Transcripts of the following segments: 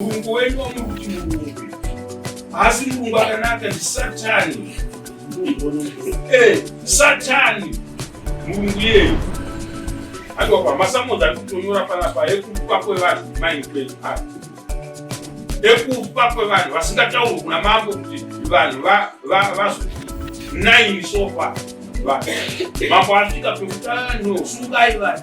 Murungu wenyu wamukuti murungu haasi murungu akanaka ndi satani eh, satani murungu yeyo aiwapa masamozi ari kutonyora panapa ekupa kwevanhu mainkwei aa ekupa kwevanhu vasingatauri kuna mambo kuti vanhu vazoti naini sofa mambo asvika pekuti anosungai vanhu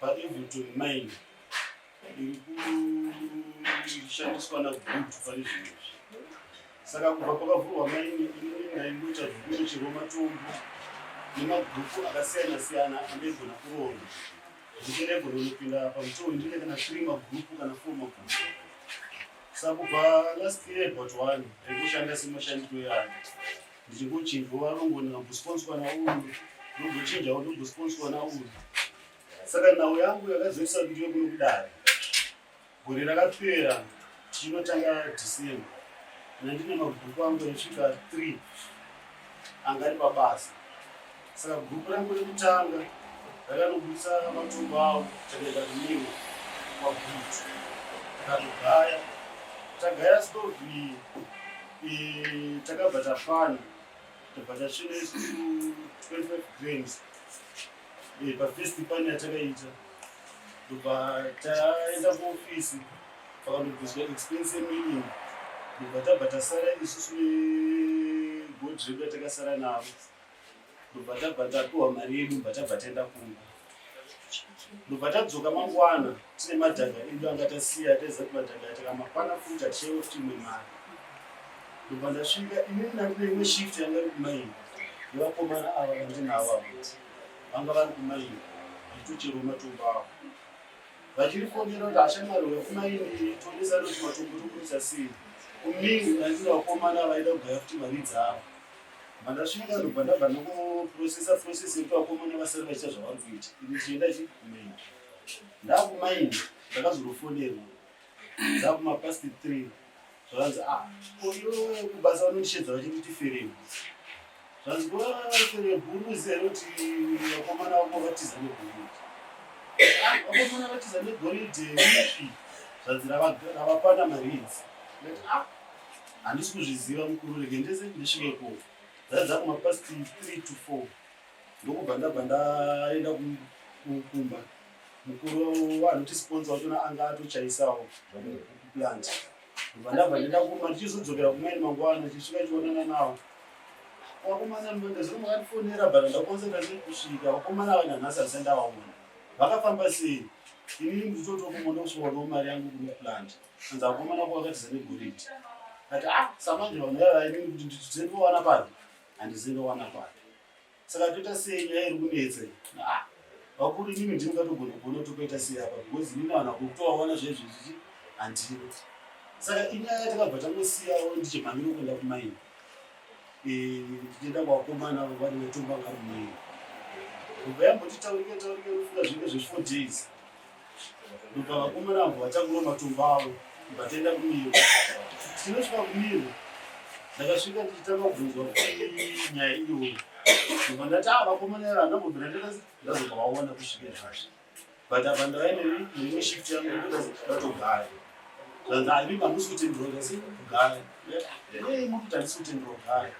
paEverton mine iri kushandiswa nagutu pane zvinhu izvi saka kubva pakavhurwa maini inini ndaingoita zvekunocherwa matombo nemabhuku akasiyana siyana andaigona kuronda zvekuti ndaigona kunopinda pamutoo ndine kana three mabhuku kana four mabhuku saka kubva last year but one ndaingoshanda semashandiro yangu Ndichingochinjwa varungu ndikambosponzwa nauyu ndogochinjawo ndogosponzwa nauyu saka nhau yangu yakazoisa kuti yokuno kudare gore rakapera tichinotanga december nandine mabhuku angu anosvika three anga ari pabasa Saka gurupu rangu rekutanga rakanobudisa matumbu avo takaenda kumiro kwagutu takatogaya tagaya stovi takabva tafana tobva tachine 25 grams pafirst pani yatakaita ndobva taenda kuofisi pakandobviswa expense yemilling ndobva tabva tasara isusu negodrep yatakasara navo ndobva tabva tapiwa mari yedu bva tabva taenda kumba ndobva tadzoka mangwana tine madhaga edu anga tasiya taiziva kuti madhaga ataka mangwana futi hatishaiwa kuti imwe mari ndobva ndasvika inini nandine imwe shift yanga iri kumaimba nevakomana ava vandinavo avo vanga vari kumaimba vachitocherwa matombo avo vachiri fonera kuti hashamwari wekumaindi tonesa kuti matombo tokuisa sei kumini nandine vakomana vaida kugaya kuti mari dzavo Mandasvika ndobva ndabva ndokuprocessa process yekuti vakomana vasati vachiita zvavari kuita ini chienda chikumaini ndakumaini ndakazonofonerwa ndakumapast three zvakanzi a ah, oyo kubasa vanondishedza vachinditi ferebu zvanzi ferebu unoziva here kuti vakomana vako vatiza negoridhe ah, vakomana vatiza negoridhe ipi zvanzi ravapana maridzi ah, Handisi kuzviziva mukuru rege ndese ndisvike ko. Dzadza kuma past 3 to 4. Ndokubva ndabva ndaenda kumba. Mukuru anoti sponsor wacho anga atochaisawo plant. Ndobva ndabva ndenda kumba ndichizodzokera kumweni mangwana ndichisvika chionana nawo. Wakomana manda zvino makatifonera but ndakonzera kusvika wakomana vana nhasi asendawa mwana. Vakafamba sei? Ini nditotokumona kusvika mari yangu kumaplant. Shanza akomana kwa wakati zane goridhe. Ati ah samanje vanhu vaya vaidini kuti ndidze ndowana pano. Handize ndowana pano. Saka toita sei nyaya iri kunetsa. Ah vakuru inini ndini ngatogona kuona tokaita sei apa because inini vanhu vakutovaona zvezvi zvichi handiri. Saka inyaya yatakabva tangosiyawo ndichimhanyira kuenda kumaini. Eh ndichienda kwakomana avo vanenge tumba ngarumaini. Kubva yamboti taurike taurike rufunga zvinge zve four days. ndobva vakomana avo vatakura matombo avo ndikatoenda kumiro tinosvika kumiro ndakasvika ndichitanga kubvunzwa kuti nyaya iyoyo ndobva ndati a vakomana avo andambobvira ndikati ndazobva vaona kusvika zvazvo but apa ndava neimwe shift yangu ndikati ndatogara zvanzi ani mamusi kutendura kasi kugara ei mukuti handisi kutendura kugara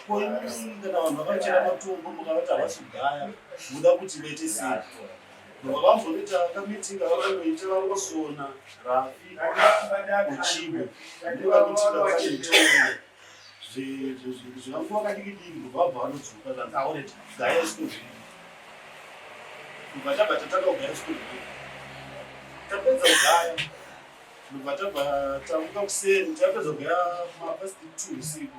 ko imimi kana vanhu vakachera matombo mukavati havasi kugaya muda kuti vaite sei Vavambonoita meeting avanoita vangosona Rafi uchibe ndiva kuti vavanoita zvevanguva kadiki diki kubva bva vanodzoka zvanzi aone gaya sikuzvii kubva tabva tatanga kugaya sikuzvii tapedza kugaya kubva tabva tamuka kuseni tapedza kugaya mapasiti two usiku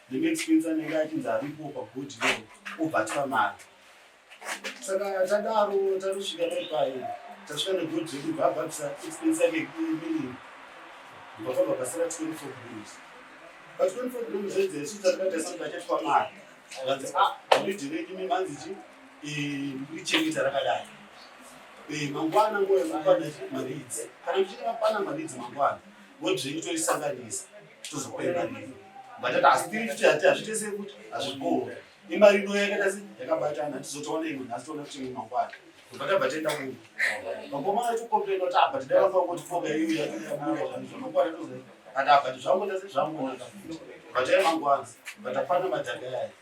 the next pence anenge achinzi aripo pagodi lo obva atipa mari saka tadaro tanosvika paipai tasvika negodi redu bvaabvabisa expense yake imini vakabva basira twenty four grams but twenty four grams zvedze isu tatikaita sati vachatwa mari vanzi a ah, godi redu mimanzi chi ndichengeta rakadai mangwana ngoya mangwana mari idzi kana muchiti mapana mari idzi mangwana vodzenyu toisanganisa tozopemba nini vatati asi tiri kuti hati hazviite sekuti hazvigoho imari ino yakaita se yakabatana tizotoona imwe nhasi toona kuti imwe mangwana tobva tabva tienda kuno mangoma aitokomplena kuti abva tidai vanga kuti foga iyo yakuyabuda zvanhu zvanokwana tozoati abva tizvangoita se zvangonaka vataiya mangwana vatapana madhaka yayo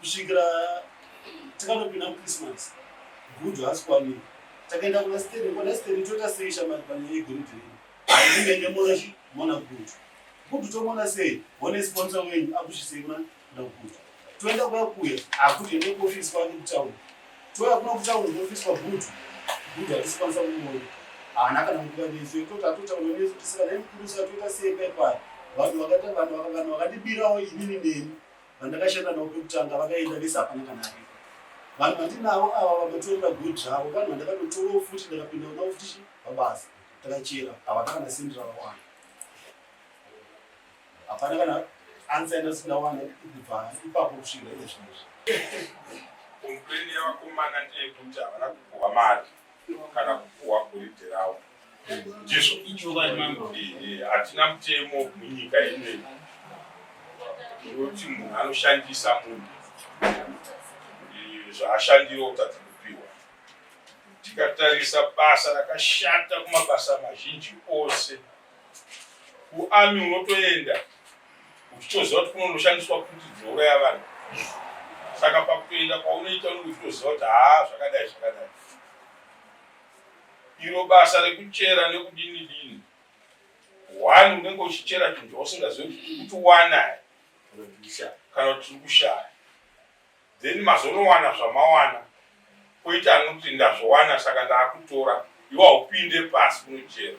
kusvikira takanopinda muchristmas gudu haasi kwamiri takaenda kuna steri kuna steri toita sei shamari pane yegoridhe redu ainge nemona mona gudu gudu tomona sei one sponsor wenyu akusvisei kuna kuna gudu toenda kuya kuya akuti ende kuofisi kwake kutauni toya kuna kutauni kuofisi kwagudu gudu hatisipasa kumona haana kana nguva nesu yekutoti atotaura nesu tisika nemukuru satoita sei paipai vanhu vakata vanhu vakadibirawo inini neni Vandakashanda navo pekutanga vakaenda vese hapana kana aripo. Vanhu vandinavo ava vamatoenda good zvavo vanhu vandakatotorawo futi ndakapinda navo futi pabasa takachera havana kana sendi ravawana. Hapana kana ansa yandasikawana kubva ipapo kusvira iye zvinezvi. Kompleni yavakomana ndeyekuti havana kupuhwa mari kana kupuhwa goridhe ravo. ndizvo ichokwadi mambo hatina mutemo munyika ine unoti munhu anoshandisa munhu zvaashandira kutadza kupiwa tikatarisa basa rakashata kumabasa mazhinji ose kuami unotoenda uchitoziva kuti kunonoshandiswa kuti dzinouraya vanhu saka pakutoenda kwaunoita unenge uchitoziva kuti haa zvakadai zvakadai iro basa rekuchera nekudini dini one unenge uchichera chinhu chausingazive kuti wanai kana kuti tiri kushaya then mazonowana zvamawana koita anoti ndazvowana saka ndaakutora iwo haupinde pasi kunochera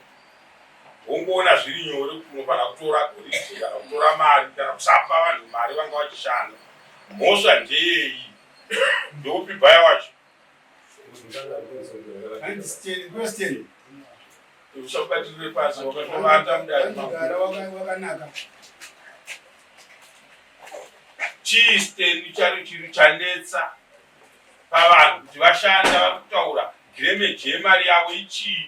wongoona zviri nyore kuti unofanira kutora goridhe kana kutora mari kana kusapa vanhu mari vanga vachishanda mhosva ndeyeyi ndeupi bhaya wacho uchabatirire pasi wakatovata mudari wakanaka chii steni chari chiri chanetsa pavanhu kuti vashanda vari kutaura gremage yemari yavo ichii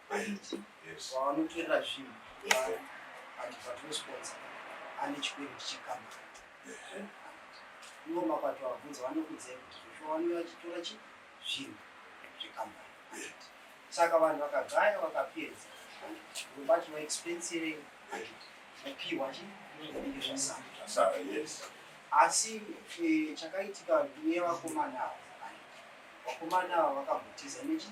vavanotorera zvinhu and vatinosponsa ane chikwere tichikama ivo mapato avabvunza vanokudzai kuti zvoshowaniwa achitora chi zvinhu zvekambani saka vanhu vakagaya vakapedza vobati vaexpensirei kupiwa zvasaa asi eh, chakaitika nevakomana ava vakomana ava vakambotiza nechii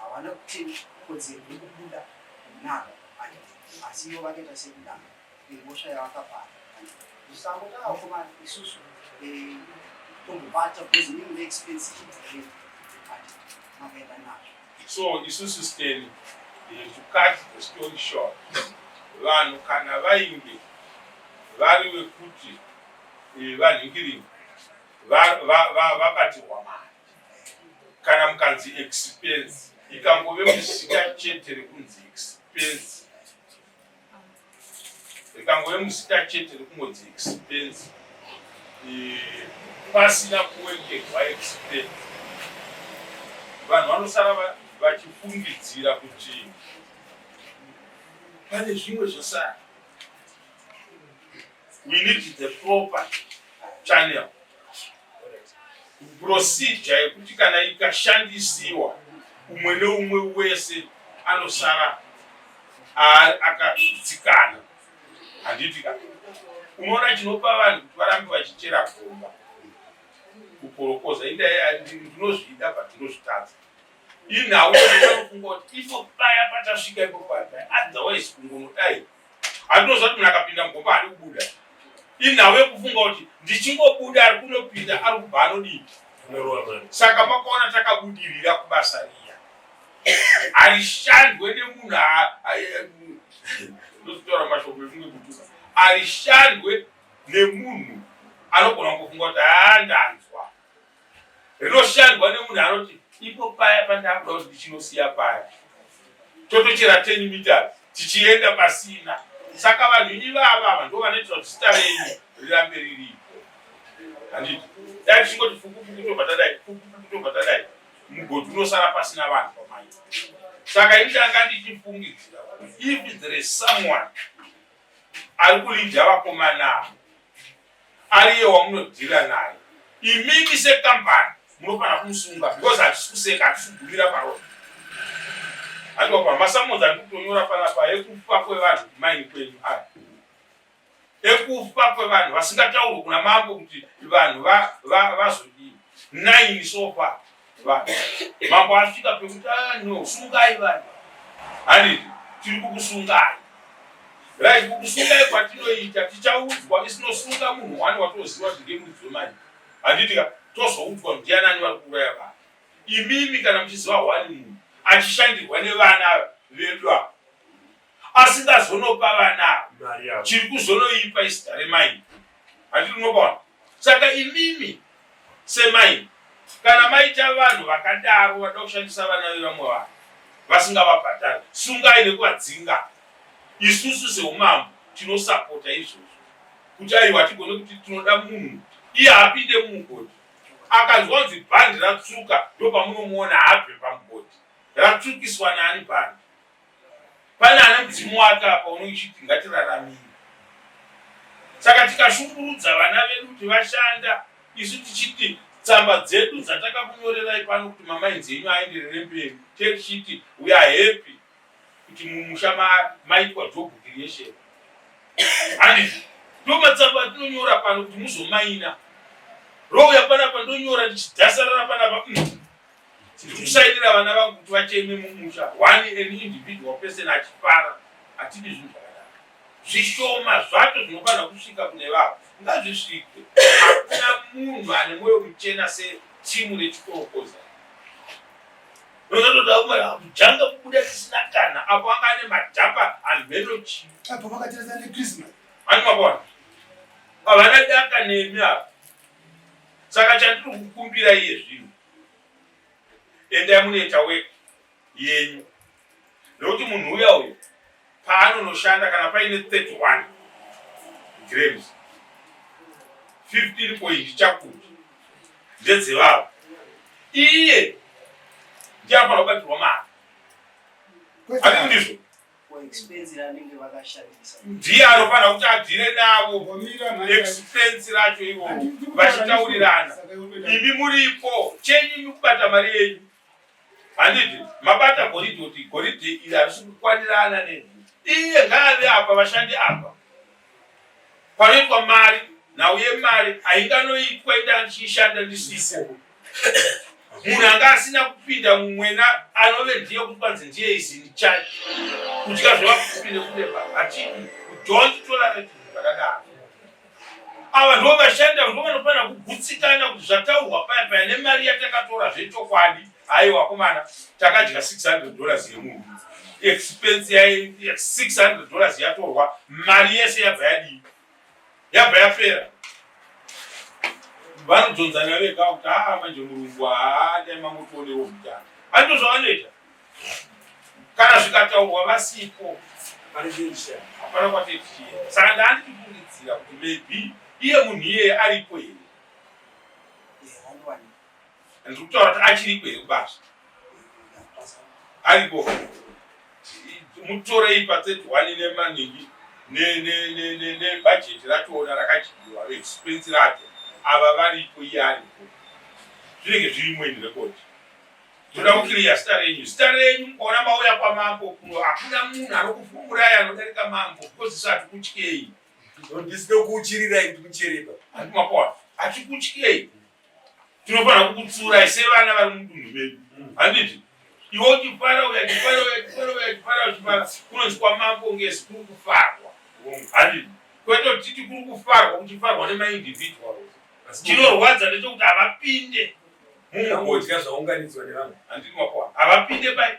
Havana kutenga kodzero yekubuda kunaka adad asi ivo vakaita sekudana nemhosva yavakapara zvisangoda vakomana isusu eh, tombobata because inini ndaexpensive eh, but makaenda nazvo so isusu steni eh, to cut the story short vanhu kana vainge vari vekuti vanhingiringa vabatirwa mari kana mukanzi expense ikangove muzita chete rekunzi expense ikangove muzita chete rekungonzi expense pasina kuwengegwa expense vanhu vanosara vachifungidzira kuti pane zvimwe zvasara We need the proper channel procedure yekuti kana ikashandisiwa umwe neumwe wese anosara akadzikana handiti ka unoona chinopa vanhu kuti varambe vachichera gomba kukorokoza indinozvida patinozvitadza inhau inofunga kuti ifo paya patasvika ipo paa otherwise kungonodai Andinoziva kuti munhu akapinda mugomba haadi kubuda. Inhau yekufunga kuti ndichingobuda ari kunopinda ari kubva anodii. Saka makaona takabudirira kubasa riya. Harishandwe nemunhu ndozotaura mashoko efunge kutuka. Harishandwe nemunhu anogona kufunga kuti haa ndanzwa. rinoshandwa nemunhu anoti ipo paya pandakuda kuti ndichinosiya paya totochera 10 meters tichienda pasina saka vanhu ivava ava ndo vanoitira kuti zita renyu rirambe riripo handiti dai tichingoti fukufuku tobva tadai fukufuku tobva tadai mugodhi unosara pasina vanhu pamai saka ini ndanga ndichifungidzira if there is someone ari kulidha vakomana ava ariye wamunodhila naye imimi sekambani munofanira kumusunga because hatisi kuseka hatisi kugumira paroa atopa masamonzi ari kutonyora panapa ekufa kwevanhu kumaini kwenyu aya ekufa kwevanhu vasingataurwe kuna mambo kuti vanhu vazodii naini sofa vanhu mambo asvika pekuti ah, no sungai vanhu haniti tiri kukusungai right kukusungai kwatinoita tichaudzwa isinosunga munhu wani watoziva kuti ngemudzi wemani handitika tozoudzwa kuti ndianani vari kuuraya vanhu imimi kana muchiziva wani munhu achishandirwa nevana vedu ava asingazonopa vana ava chiri kuzonoipa izita remaini handiti unokaona saka imimi semaini kana maita vanhu vakadaro vada kushandisa vana vevamwe vanhu vasingavabhadhari sungai nekuvadzinga isusu seumambo tinosapota izvozvo kuti aiwa tigone kuti tinoda munhu iye apinde mumugodhi akanzwa kunzi bhandi ratsuka ndopamunomuona abve pamugodhi ratsukiswa naani bhandi Pane ane mudzimu wake apa unochiti ngatiraramire. Saka tikashungurudza vana vedu kuti vashanda isu tichiti tsamba dzedu dzatakakunyorerai pano kuti mamainzi enyu aenderere mberi techiti we are happy kuti mumusha maitwa job creation handizi ndo matsamba atinonyora pano kuti muzomaina rouya panapa ndonyora ndichidhasarara panapa mm. Ndiri kushaidira vana vangu kuti vacheme mumusha one an individual person achifara hatidi zvinhu zvakadaro. Zvishoma zvacho zvinofanira kusvika kune vavo ngazvisvike. Hakuna munhu ane mwoyo muchena setimu rechikorokoza. Nozatoda kumara kujanga kubuda tisina kana apo anga ane madhapa hamheno chii. Apo vakatirasa neChristmas. Ani mabona. Havana daka nemi apa. Saka chandiri kukumbira iye zvinhu endai munoita wek yenyu nekuti munhu uya uyu paanonoshanda kana paine 31 grams 15 point chakuti ndedzevavo iye ndiye anobatirwa mari andizvo ndiye anofanira kuti abvire navo expense racho ivo vachitaurirana imi muripo chenyu imi kubata mari yenyu handiti mabata goridhe kuti goridhe iri harisi kukwanirana ne iye ngaave apa vashandi apa panoitwa mari nhau yemari hainganoitwa inda ndichiishanda ndisipo munhu anga asina kupinda mumwena anove ndiye kuti kwanzi ndiye izini chake kudya zvevakupinde kunepa hatidi kudhonzi tolareti zvakadaro ava ndo vashanda ndo vanofanira kugutsikana kuti zvataurwa paya paya nemari yatakatora zvechokwadi Aiwa komana, takadya 600 dollars yemunhu. Expense yai 600 dollars yatorwa, mari yese yabva yadii? Yabva yapera. Vanodzonzana vega kuti haa ah, manje murungu haa ah, dai mangotonewo mutano. Andizvo zvavanoita. Kana zvikataurwa vasipo hapana kwatetichienda. Saka ndaanditi kufungidzira kuti maybe iye munhu iyeye aripo here. And kutaura kuti achiriko here kubasa? Ariko. Mutorei pa 31 nemaningi ne ne ne ne ne budget ratoona rakadyiwa expense racho. Ava varipo iye ariko. Zvinenge zvirimo in record. Toda kuclear star renyu. Star renyu ona mauya kwa mambo kuno hakuna munhu arokufumuraya anodarika mambo because sati kutyei. Ndisino kuchirira ikuchereba. Andimapona. Achikutyei. tinofanira kukutsurai sevana vari mudunhu medu handiti iwe uchifara uya chifara uya chifara uya chifara uchifara kunonzi kwamambo ngesi kuri kufarwa handiti kwete kuti titi kuri kufarwa kuchifarwa nemaindividual chinorwadza ndechekuti havapinde mumudya zvaunganidzwa nevanhu handiti makwa havapinde pai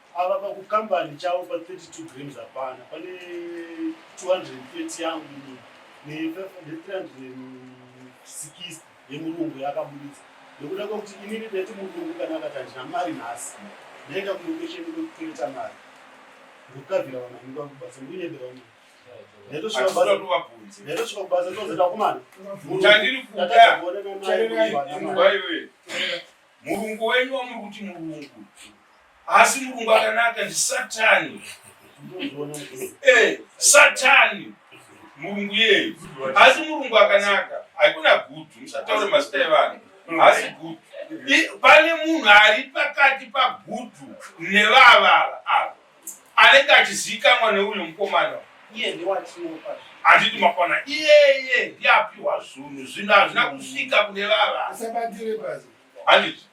Ava pakukambani chavo pa 32 grams hapana pane 230 yangu ini ne 360 yemurungu yakabuditsa nekuda kwekuti inini ndati murungu kana akati handina mari nhasi ndaenda kulocation kwekukereta mari ndokukavira vana ndikuda kubasa ndikunyebera uno ndaitosvika kubasa ndozoenda kumana chandiri kuda chaiwe Murungu wenyu wamuri kuti murungu asi murungu akanaka ndi satani eh, satani murungu yeyu asi murungu akanaka haikuna gutu musataure mazita evanhu asi gutu pane munhu ari pakati pagutu nevavava ava anenge achizivikanwa neuyo mukomana handiti makwana iyeye ndiye apiwa zvinhu zvinhu hazvina kusvika kune vava handiti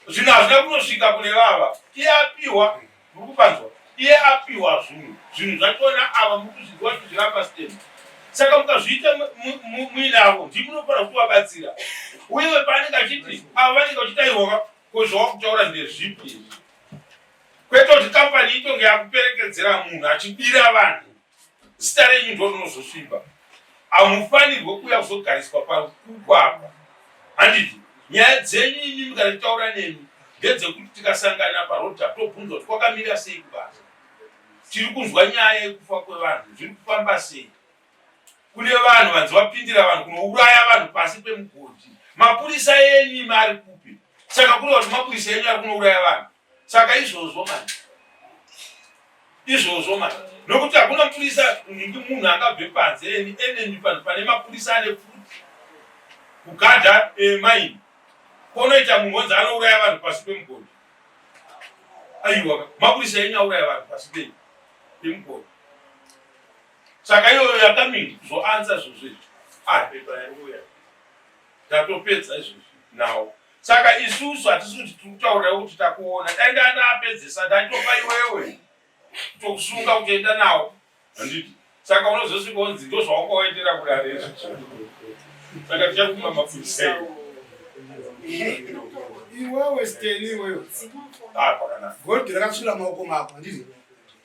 zvinhu hazvina kunosvika kune vava iye apiwa muri kupanzwa iye apiwa zvinhu zvinhu zvachona ava muri kuzviziva kuti zvirapa stem saka mukazviita muinavo ndimunofanira kuti wabatsira uye paanenge achiti ava vanenge vachitairwa Ko zvawakutaura ndezvipi izvi? Kwete kuti kampani itonge yakuperekedzera munhu achibira vanhu zita renyu ndo rinozosviba. Hamufanirwe kuuya kuzogariswa pakuku apa. Handiti nyaya dzenyu imi mukatitaura nemi ndedzekuti tikasangana paroad tapobvunza kuti kwakamira sei kubasa. Tiri kunzwa nyaya yekufa kwevanhu zviri kufamba sei. kune vanhu vanzi vapindira vanhu kunouraya vanhu pasi pemugodhi mapurisa enyu mari kupi saka kureva kuti mapurisa enyu ari kunouraya vanhu saka izvozvo mani izvozvo mani nokuti hakuna mapurisa ndi munhu angabve panze eni eneni panhu pane mapurisa ane futi kugadha eh, maini konoita munhu onzi anouraya vanhu pasi pemugodhi aiwa mapurisa enyu auraya vanhu pasi pei pemugodhi saka iyoyo yakamini zvoanza zvozvizvi apepa ah, yauya ndatopedza izvozvi nawo saka isusu hatisi kuti tiri kutaurira kuti takuona dai ndaa ndaapedzesa ndaitopa iwewe tokusunga kutoenda nawo handiti saka unozosvika onzi ndo zvawakaoendera kudare izvi saka tichakuma mapurisa iwewe steni iwewe ah, pakanaka godhi rakasvira maoko mako handiti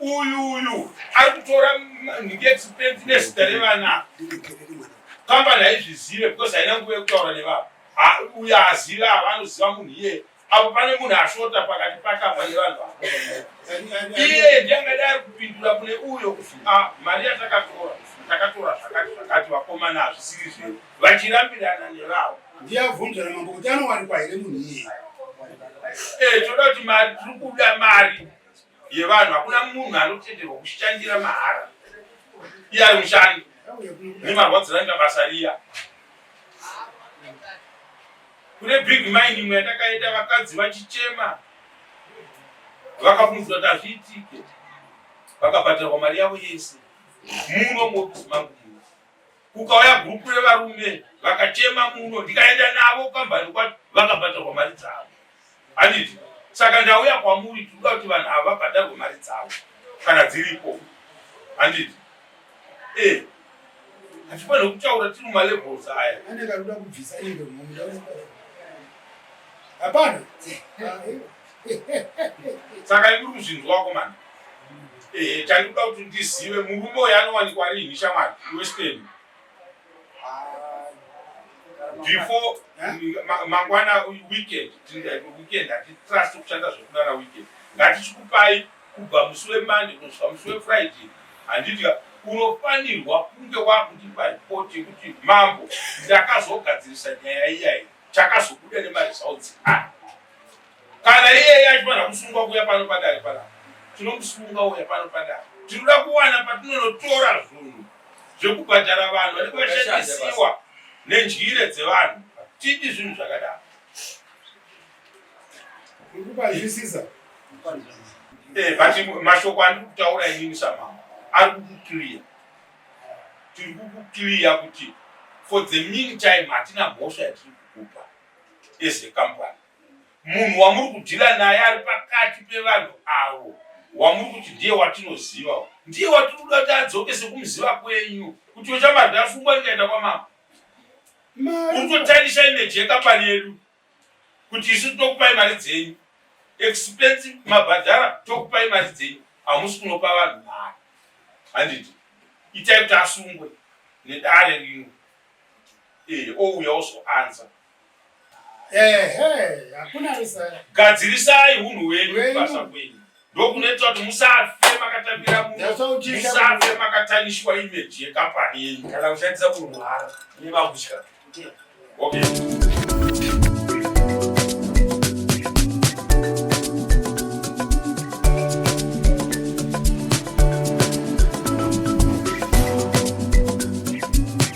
Uyu uyu ari kutora nhingi expense nezita revana kambani haizvizive because haina nguva yekutaura nevavo uyo aziva ava anoziva munhu iyeye apo pane munhu ashota pakati pakabva nevanhu vavo iyeye ndiangadai ari kupindura kune uyo kuti ah, mari yatakatora takatora zvakati zvakati vakomana hazvisiri zvedu vachirambirana nevavo ndiyabvunzana mambo kuti anowanikwa here munhu iyeye eh, toda kuti mari tiri kuda mari yevanhu hakuna munhu anotenderwa kushandira mahara iye ari mushandi nemarwadzira anga basa riya kune big mind imwe yatakaita vakadzi vachichema vakafunzwa kuti hazviitike vakabhadharwa mari yavo yese muno ngokuzi mangu kukauya gurupu revarume vakachema muno ndikaenda navo kambani kwacho vakabhadharwa mari dzavo Handiti? Saka ndauya kwamuri tinoda kuti vanhu ava vabhadharwe mari dzavo kana dziripo. Handiti? Eh. Hatifanire kutaura tiri mumalevels aya. Ane karuda kubvisa indo mumunda wese. Hapana. Saka ikuri kuzvinzwa wako mani. Eh, chandikuda kuti ndizive murume uyo anowanikwa riini shamari iwe Steni. before mangwana weekend weekend hatitrust kushanda zvekunana weekend ngatichikupai kubva musi wemande kunosvika musi wefriday handiti unofanirwa kunge wakutipa ripoti yekuti mambo ndakazogadzirisa nyaya iyayi takazobuda nemaresults aya Kana iyeye achifanira kusungwa kuuya pano padare panapa, tinomusunga uya pano padare. Tinoda kuwana patinonotora zvinhu zvekubhadhara vanhu vanenge vashandisiwa nendyire dzevanhu. Tidi zvinhu zvakadaro. Ndikupazvisisa. Eh, but mashoko andiri kutaura inini samama ari kukukliya tiri kukukliya kuti for the mean time hatina mhosva yatiri kukupa as a company munhu wamuri kudhila naye ari pakati pevanhu avo wamuri kuti ndiye watinoziva ndiye watiri kuda kuti adzoke sekumuziva kwenyu kuti ochamarwi afungwa ndikaenda kwamama uri kutotarisa imeji yekapani yedu kuti isu tokupai mari dzenyu expensive mabhadhara tokupai mari dzenyu hamusi kunopa vanhu mari handiti itai kuti asungwe nedare rino ee ouya ozoanza gadzirisai hunhu hwenyu kubasa kwenyu ndokunoita kuti musafe makatambira muno musafe makataniswa imeji yekampani yenyu kana kushandisa kurwara nevakutya okay.